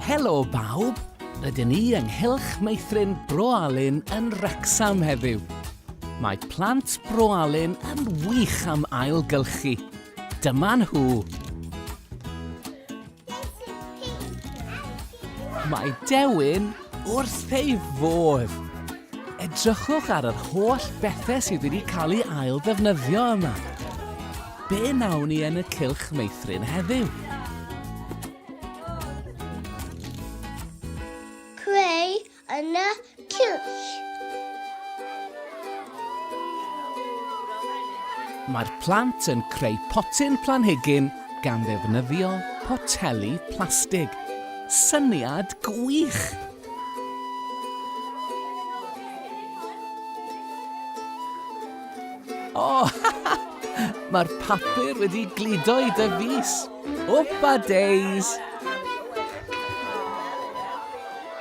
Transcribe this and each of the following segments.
Helo bawb, rydyn ni ynghylch meithrin Bro Alun yn Wrexham heddiw. Mae plant Bro Alun yn wych am ailgylchu. Dyma nhw. Mae Dewin wrth ei fodd! Edrychwch ar yr holl bethau sydd wedi cael ei ail ddefnyddio yma. Be nawn ni yn y cylch meithrin heddiw? Creu yn y cylch. Mae'r plant yn creu potyn planhigyn gan ddefnyddio poteli plastig. Syniad gwych! O! Mae'r papur wedi gludo i dy fys. Wpa days!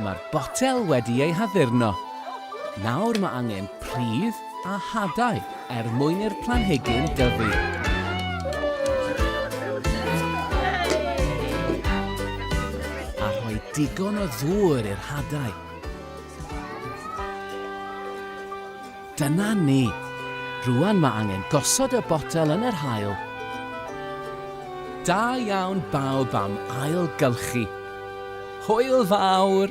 Mae'r botel wedi ei haddurno. Nawr mae angen pridd a hadau er mwyn i'r planhigyn dyfu. A rhoi digon o ddŵr i'r hadau. Dyna ni. Rŵan mae angen gosod y botel yn yr haul. Da iawn bawb am ailgylchu. Hwyl fawr!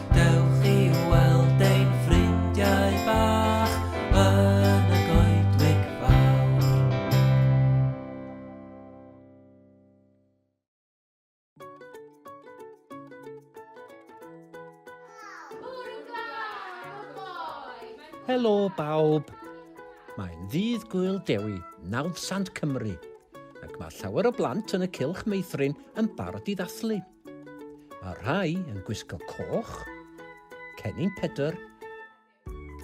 Dewch i weld ein ffrindiau bach yn y Goedwig Fawr. Bore glân o gloi! Helo bawb! Mae'n ddydd Gŵyl Dewi, nawdd sant Cymru, ac mae llawer o blant yn y Cylch Meithrin yn barod i ddathlu. Mae rhai yn gwisgo coch, cennin Pedr,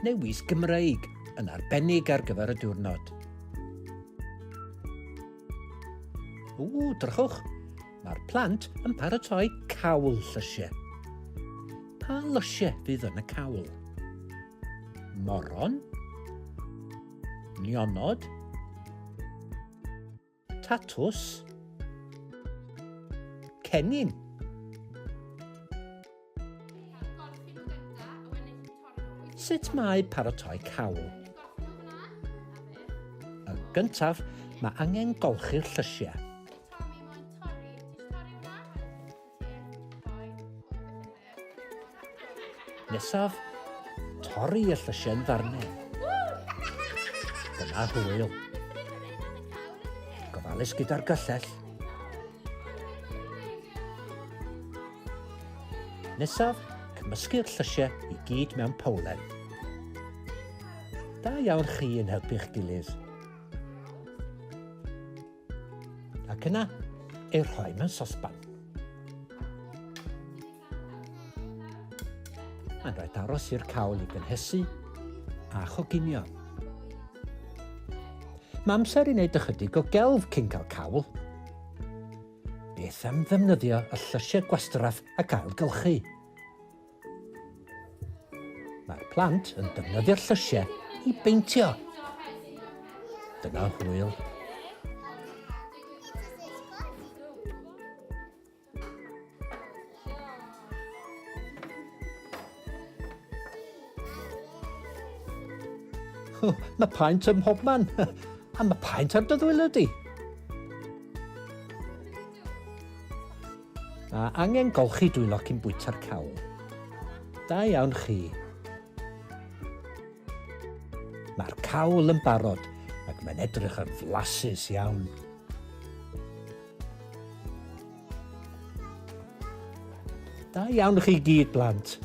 neu wisg Gymreig yn arbennig ar gyfer y diwrnod. Ww, drychwch, mae'r plant yn paratoi cawl llysiau. Pa lysiau fydd yn y cawl? Moron? Nionod? Tatws. Cennin. Sut mae paratoi cawl? Yn gyntaf, mae angen golchi'r llysiau. Nesaf, torri y llysiau yn ddarnau. Dyna hwyl. Gofalus gyda'r gyllell. Nesaf, cymysgu'r llysiau i gyd mewn powlen. Da iawn chi yn helpu'ch gilydd. Ac yna, ei rhoi mewn sosban. Mae'n rhaid aros i'r cawl i gynhesu a choginio. Mae amser i wneud ychydig o gelf cyn cael cawl. Beth am ddefnyddio y llysiau gwastraff ac ailgylchu? Mae'r plant yn defnyddio'r llysiau i beintio. Dyna hwyl. Oh, mae paent ym mhob man. A mae paent ar dy ddwylo di. A angen golchi dwy locyn bwyta'r cawl. Da iawn chi. Mae'r cawl yn barod ac mae'n edrych yn flasus iawn. Da iawn chi gyd, blant.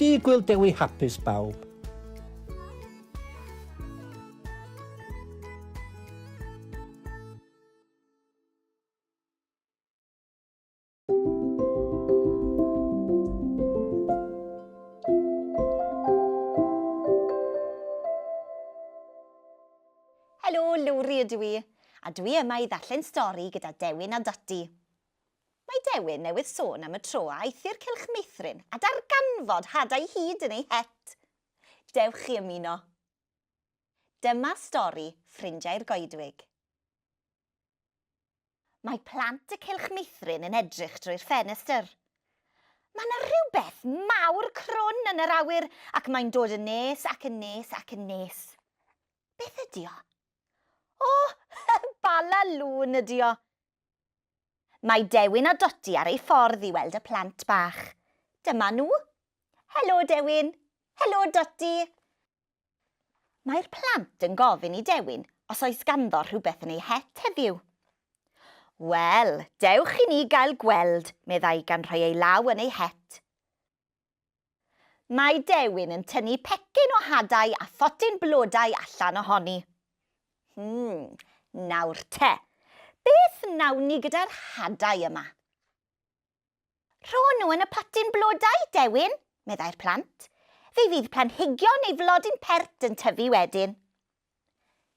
Di gwyl dewi hapus bawb. Helo, Lowri ydw i, a dwi yma i ddarllen stori gyda Dewin a Dodi. Mae Dewin newydd sôn am y tro a aeth i'r cylch meithrin a darganfod hadau hyd yn ei het. Dewch chi ymuno. Dyma stori Ffrindiau'r Goedwig. Mae plant y Cylch Meithrin yn edrych drwy'r ffenestr. Mae 'na rhywbeth mawr crwn yn yr awyr ac mae'n dod yn nes ac yn nes ac yn nes. Beth ydi o? O! Bala lŵn ydi o! Mae Dewin a Dodi ar ei ffordd i weld y plant bach. Dyma nhw. Helo, Dewin. Helo, Dodi. Mae'r plant yn gofyn i Dewin os oes ganddo rhywbeth yn ei het heddiw. Wel, dewch i ni gael gweld, meddai gan rhoi ei law yn ei het. Mae Dewin yn tynnu pecyn o hadau a photyn blodau allan ohoni. Hmm, nawr te, beth wnawn ni gyda'r hadau yma? Rho nhw yn y potyn blodau, Dewin, meddai'r plant. Fe fydd planhigion neu flodyn pert yn tyfu wedyn.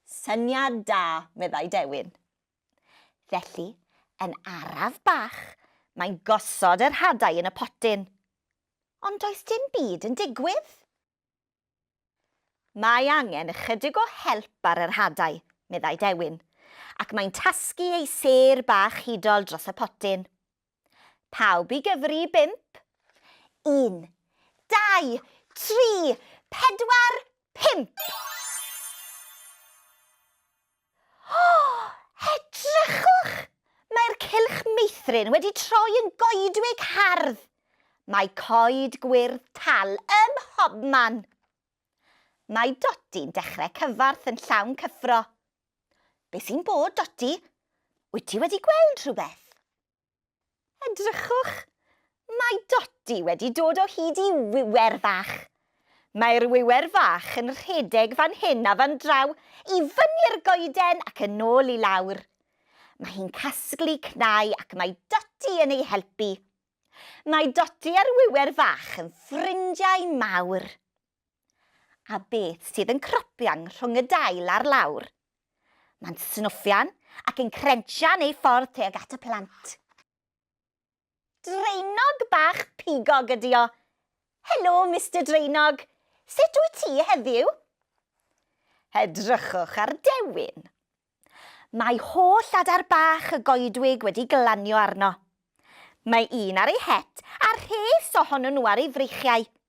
Syniad da, meddai Dewin. Felly, yn araf bach, mae'n gosod yr hadau yn y potyn. Ond does dim byd yn digwydd. Mae angen ychydig o help ar yr hadau, meddai Dewin, ac mae'n tasgu ei sêr bach hudol dros y potyn. Pawb i gyfri i bump? Un, dau, tri, pedwar, pump! O! Edrychwch! Mae'r cylch meithrin wedi troi yn goedwig hardd! Mae coed gwyrdd tal ym mhobman! Mae Dodi'n dechrau cyfarth yn llawn cyffro. Be sy'n bod, Dodi? Wyt ti wedi gweld rhywbeth? Edrychwch! Mae Dodi wedi dod o hyd i wiwer fach. Mae'r wiwer fach yn rhedeg fan hyn a fan draw, i fyny'r goeden ac yn ôl i lawr. Mae hi'n casglu cnau ac mae Dodi yn ei helpu. Mae Dodi a'r wiwer fach yn ffrindiau mawr. A beth sydd yn cropian rhwng y dail a'r lawr? Mae'n snwffian ac yn crensian ei ffordd tuag at y plant. Draenog bach pigog ydi o. Helo, Mister Draenog. Sut wyt ti heddiw? Edrychwch ar Dewin. Mae holl adar bach y goedwig wedi glanio arno. Mae un ar ei het a rhes ohonyn nhw ar ei freichiau.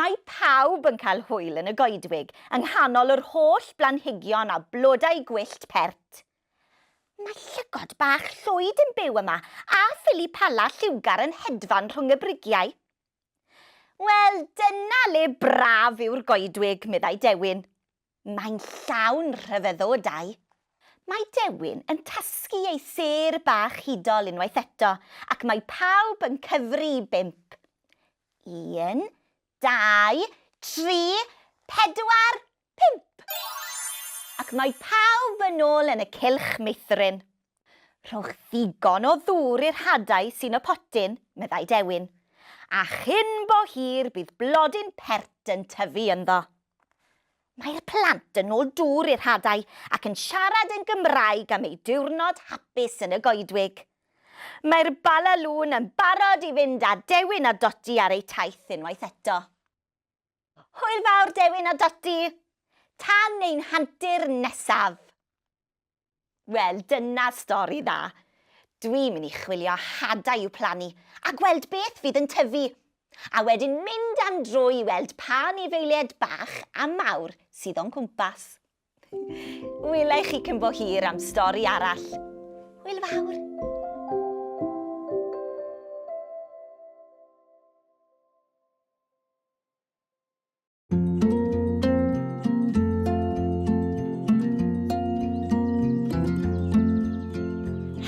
Mae pawb yn cael hwyl yn y goedwig yng nghanol yr holl blanhigion a blodau gwyllt pert. Mae llygod bach llwyd yn byw yma a phili pala lliwgar yn hedfan rhwng y brigiau. Wel, dyna le braf yw'r goedwig, meddai Dewin. Mae'n llawn rhyfeddodau. Mae Dewin yn tasgu ei sêr bach hudol unwaith eto, ac mae pawb yn cyfri i bump. Un, dau, tri, pedwar, pump! Ac mae pawb yn ôl yn y cylch meithrin. Rhowch ddigon o ddŵr i'r hadau sy'n y potyn, meddai Dewin, a chyn bo hir bydd blodyn pert yn tyfu ynddo. Mae'r plant yn ôl dŵr i'r hadau ac yn siarad yn Gymraeg am eu diwrnod hapus yn y goedwig. Mae'r Bala Lŵn yn barod i fynd â Dewin a Dodi ar eu taith unwaith eto. Hwyl fawr, Dewin a Dodi! Tan ein hantur nesaf! Wel, dyna stori dda. Dwi'n mynd i chwilio hadau i'w plannu a gweld beth fydd yn tyfu, a wedyn mynd am dro i weld pa anifeiliaid bach a mawr sydd o'n cwmpas. Wela i chi cyn bo hir am stori arall. Hwyl fawr!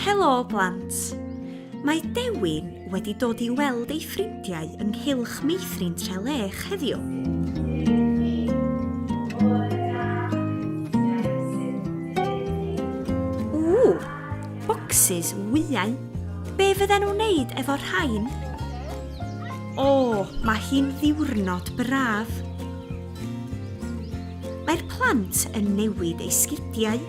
Helo blant! Mae Dewin wedi dod i weld ei ffrindiau ynghylch meithrin Trelech heddiw. Ww, bocsys wyau. Be fydden nhw'n wneud efo'r rhain? O, mae hi'n ddiwrnod braf. Mae'r plant yn newid eu sgidiau.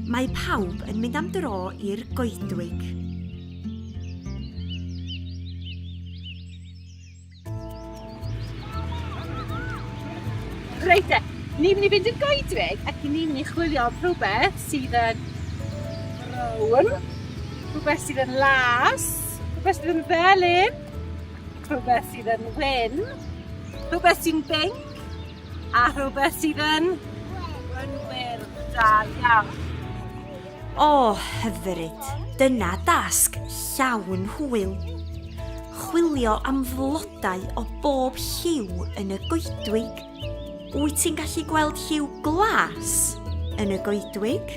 Mae pawb yn mynd am dro i'r goedwig. Reit e, ni'n mynd i fynd i'r goedwig ac ni'n mynd i chwilio am rhywbeth sydd yn brown, rhywbeth sydd yn las, rhywbeth sydd yn felyn, rhywbeth sydd yn wyn, rhywbeth sy'n binc, a rhywbeth sydd yn... Yn wir, da iawn. O, hyfryd! Dyna dasg llawn hwyl. Chwilio am flodau o bob lliw yn y goedwig. Wyt ti'n gallu gweld lliw glas yn y goedwig?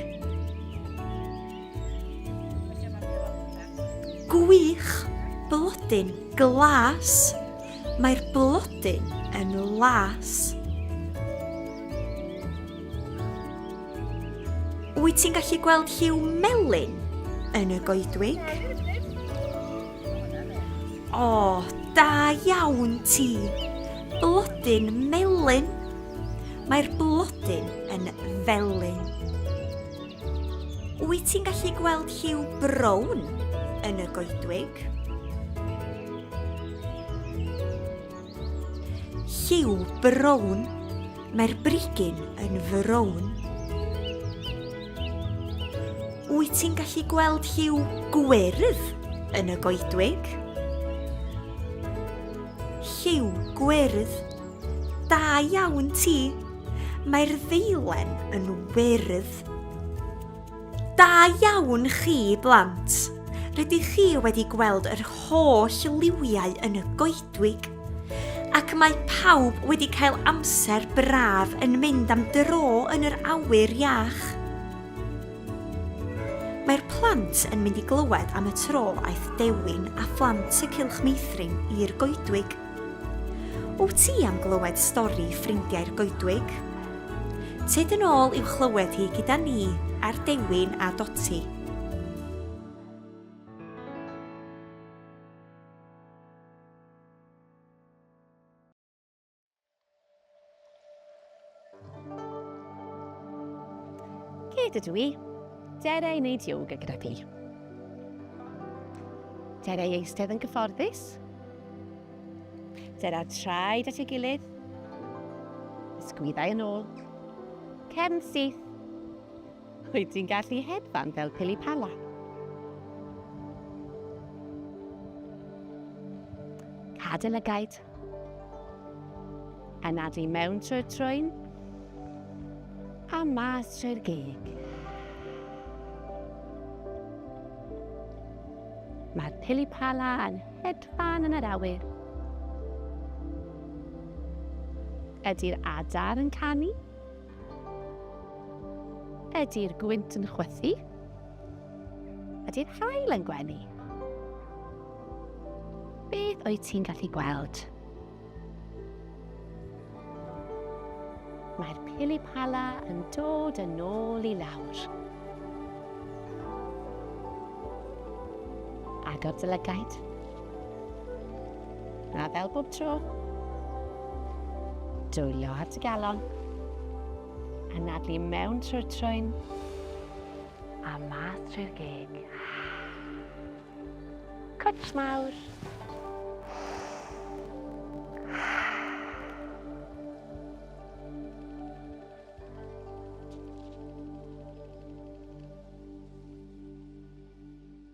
Gwych! Blodyn glas! Mae'r blodyn yn las. Wyt ti'n gallu gweld lliw melyn yn y goedwig? O, da iawn ti! Blodyn melyn. Mae'r blodyn yn felyn. Wyt ti'n gallu gweld lliw brown yn y goedwig? Lliw brown, mae'r brigyn yn frown. Wyt ti'n gallu gweld lliw gwyrdd yn y goedwig? Lliw gwyrdd, da iawn ti! Mae'r ddeilen yn wyrdd. Da iawn chi, blant! Rydych chi wedi gweld yr holl liwiau yn y goedwig. Ac mae pawb wedi cael amser braf yn mynd am dro yn yr awyr iach. Mae'r plant yn mynd i glywed am y tro aeth Dewin a phlant y Cylch Meithrin i'r goedwig. Wyt ti am glywed stori ffrindiau'r goedwig? Tyd yn ôl i'w chlywed hi gyda ni ar Dewin a Doti. Gyd ydw i. Dere i wneud yoga gyda chi. Dere i eistedd yn gyfforddus. Dere traed at ei gilydd. Ysgwyddau yn ôl. Cefn syth. Wyt ti'n gallu hedfan fel pili pala? Cadael y gaid. Anadu mewn trwy'r trwyn a mas trwy'r gig. Mae'r pilipala yn hedfan yn yr awyr. Ydy'r adar yn canu? Ydy'r gwynt yn chwythu? Ydy'r hael yn gwenu? Beth wyt ti'n gallu gweld? Mae'r pilipala yn dod yn ôl i lawr. Agor dy lygaid. A fel bob tro, dwylio at y galon, anadlu mewn trwy'r trwyn, a math trwy'r geg. Cwtsh mawr.